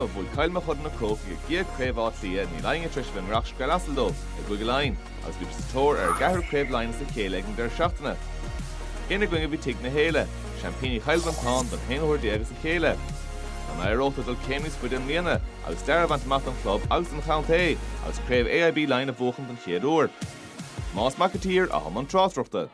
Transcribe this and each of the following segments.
a bhuaigh Cill Mochuda na Crócaigh a gcéad Chraobh Átha Cliath Níl éinne tar éis a bheith i ngiorracht scread asail dóibh i gCúige Laighean agus bhí siad sa tóir ar a gceathrú Craobh Laighean as a chéile ag an deireadh seachtaine Ina gcoinne bhí Tigh na hÉille, seaimpíní Chill Mhantáin don haon uair déag as a chéile. An éireodh leo dul céim níos faide i mbliana agus stair a bhaint amach don chlub agus don chontae agus Craobh AIB Laighean a bhuachan den chéad uair Tomás Mac an tSaoir, atá i mbun tráchtaireachta.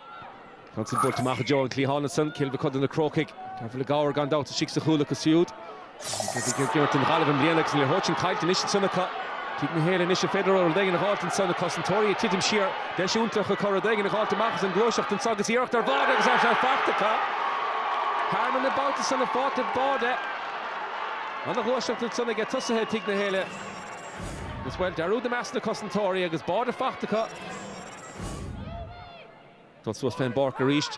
Ceann san buailte amach i dtreo an cliathán ansan, Cill Mochuda na Crócaigh. Dearbhla Gower gan dabht istigh sa chúl acu siúd. Í ag imirt don Ghaillimh i mbliana agus an liathróid sin caillte anois ansan acu. Tigh na hÉille anois, an féidir leo rud éigin a dh'fháilt ansan? Na cosantóirí ag titim siar, deis iontach acu rud éigin a dh'fháilt amach as an ngluaiseacht anso agus iarracht ar bháide agus é faighte acu. Thearmann na babhta san, an fáiteall báide. An-ghluaiseacht ansan ag tosaithe Tigh na hÉille agus, bhuel, dearúd i measc na cosantóirí agus báide faighte acu. Dul suas fén bpáirc arís.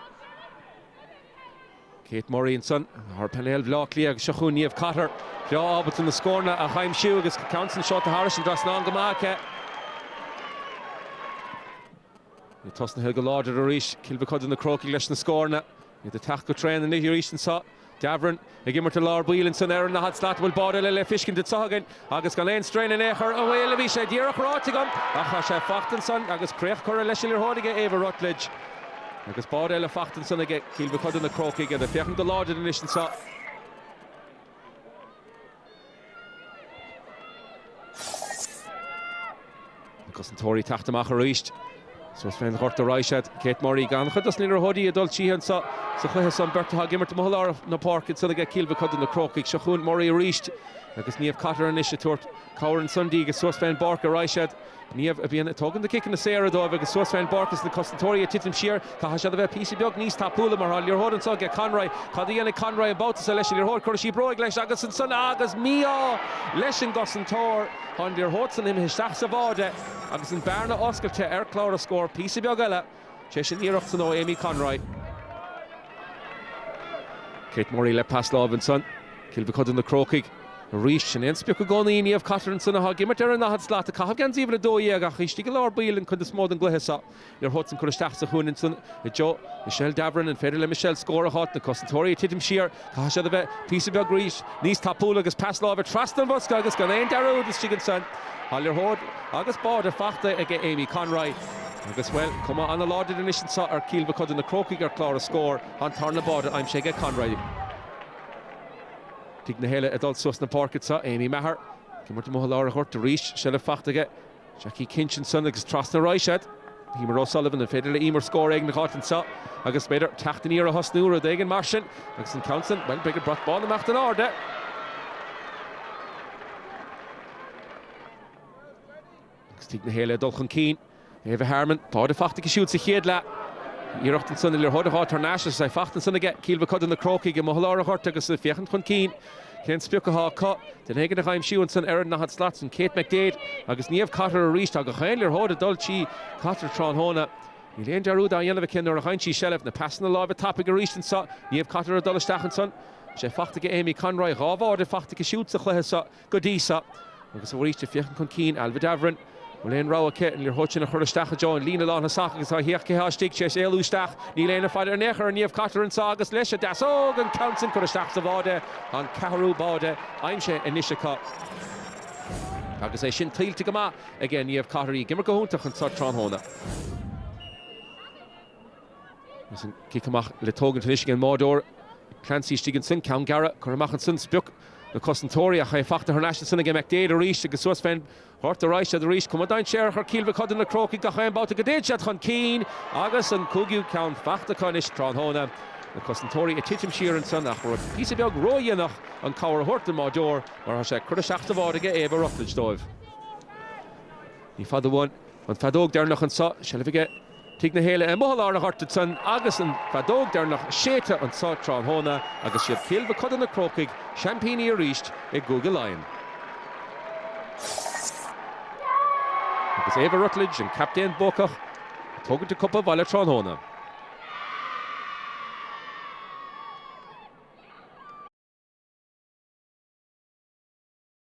Kate Murray ansan, ar phainéal Bhleá Cliath agus seo chugainn Niamh Cotter, breá ábalta na scóranna a aimsiú agus ceann san seolta thairis an trasnán go maith aici. Iad tosnaithe go láidir arís, Cill Mochuda na Crócaigh leis na scóranna. Iad ag teacht go tréan anois arís anso. Davoren ag imirt i lár baill ansan ar a ndaichead slat an bhfuil báide eile le feiscint anso againn agus gan aon straein in aon chor bhuel bhí sé díreach ráite agam ach tá sé faighte ansan agus críoch curtha leis an liathróid aige Éabha Rutledge agus báide eile faighte ansan aige Cill Mochuda na Crócaigh iad ag féachaint go láidir anois anso. Na cosantóirí ag teacht amach arís. Suas fén ghort a raghaidh siad, Kate Murray an-chuid dos na liathróidí ag dul tríthi anseo sa chluiche so, an bheirt atá ag imirt amuigh i lár na páirce ansan aige Cill Mochuda na Crócaigh. Seo chugainn Murray arís agus Niamh Cotter anois ag tabhairt cabhair ansan di agus suas fén bpáirc a raghaidh siad. Niamh a bhíonn ag tógaint na ciceanna saora dóibh agus suas fén bpáirc is na cosantóirí ag titim siar. Caithfidh siad a bheith píosa beag níos tapúla mar tá an liathróid anso aige Conroy. Cad a dhéanfaidh Conroy an babhta so leis an liathróid? Cuirfidh sí bróig leis agus ansan agus mí-ádh leis an gcosantóir. Tá an liathróid san imithe isteach sa bháide agus an bearna oscailte ar chlár na scór píosa beag eile. Tar éis an iarracht san ó Amy Conroy. Kate Murray le pas láimhe ansan. Cill Mochuda na Crócaigh arís. Sin é an sprioc i gcónaí Niamh Cotter ansan atá ag imirt ar a ndaichead slat ag caitheamh geansaí uimhir a dó dhéag ach istigh i lár baill an cuid is mó den gcluiche seo. Liathróid san curtha isteach sa chúinne ansan i dtreo Michelle Davoren. An féidir le Michelle scór a dh'fháilt? Na cosantóirí ag titim siar. Caithfidh siad a bheith píosa beag arís níos tapúla agus pas láimhe trasna an bhosca agus gan aon dearúd istigh ansan. Tá an liathróid agus báide faighte aige Amy Conroy agus, bhuel, cuma an-láidir anois anso ar Chill Mochuda na Crócaigh ar chlár na scór, an tarna báide aimsithe aige Conroy. Tigh na hÉille ag dul suas na páirce anso, Aimee Maher ag imirt amuigh i lár an ghoirt arís, seilbh faighte aige Jackie Kinch ansan agus trasna ar ais go dtí Emer O'Sullivan, an féidir le Emer scór éigin a dh'fháilt anseo agus b'fhéidir teacht aniar a thosnú, rud éigin mar sin? Agus an ceann san, bhuel, beidh an brat bán ag imeacht in airde! Agus Tigh na hÉille ag dul chun cinn. Aoife Gorman, báide faighte aici siúd sa chéad leath. Iarracht ansan, an liathróid a shá tar n-ais agus é faighte ansan aige Cill Mhochuda na Crócaigh amuigh i lár an ghoirt agus iad ag féachaint chun cinn. Cén sprioc athá acu? Duine éigin a dh'aimsiú ansan ar an ndaichead slat san, Kate McDaid agus Niamh Cotter arís, tá gach aon liathróid ag dul trí Cotter tráthnóna. Níl aon dearúd á dhéanamh aici nuair a fhaigheann sí seilbh, na pasanna láimhe tapaidh arís anso, Niamh Cotter ag dul isteach ansan. Tá sé faighte ag Amy Conroy, dhá bháide faighte aici siúd sa chluiche so go dtí so. Agus arís, ag féachaint chun cinn Ailbhe Davoren. Bhfuil aon rogha aici? An liathróid sin a chur isteach i dtreo an líne lántosach agus féach cé thá istigh, tar éis éalú isteach. Níl éinne ag faire uirthi in aon chor, an Niamh Cotter ansan agus leis an deasóg! An ceann sin curtha isteach sa bháide, tá an ceathrú báide aimsithe anois acu. Agus é sin tuillte go maith aige Niamh Cotter, í ag imirt go hiontach anseo tráthnóna. Agus an cic amach le tógaint anois ag an mbáideoir Clancy istigh ansin, ceann gearra curtha amach ansin, sprioc na cosantóirí ach é faighte thar n-ais ansin ag McDaid arís agus suas fén ghort ar ais iad arís, cuma dainséarach ar Chill Mhochuda na Crócaigh gach aon babhta go dtéid siad chun cinn agus an cúigiú ceann faighte acu anois tráthnóna. Na cosantóirí ag titim siar ansan ach b'fhéidir píosa beag ró-dhéanach an cabhair a thabhairt don mbáideoir mar tá sé curtha isteach sa bháide aige Éabha Rutledge dóibh. Ní fada uainn an feadóg deireanach anso, seilbh aige. Tigh na hÉille amuigh i lár an ghoirt ansan agus an feadóg deireanach séidte anseo tráthnóna agus is iad Cill Mhochuda na Crócaigh seaimpíní arís i gCúige Laighean. Agus Éabha Rutledge, an captaen buacach, ag tógaint an cupa abhaile tráthnóna.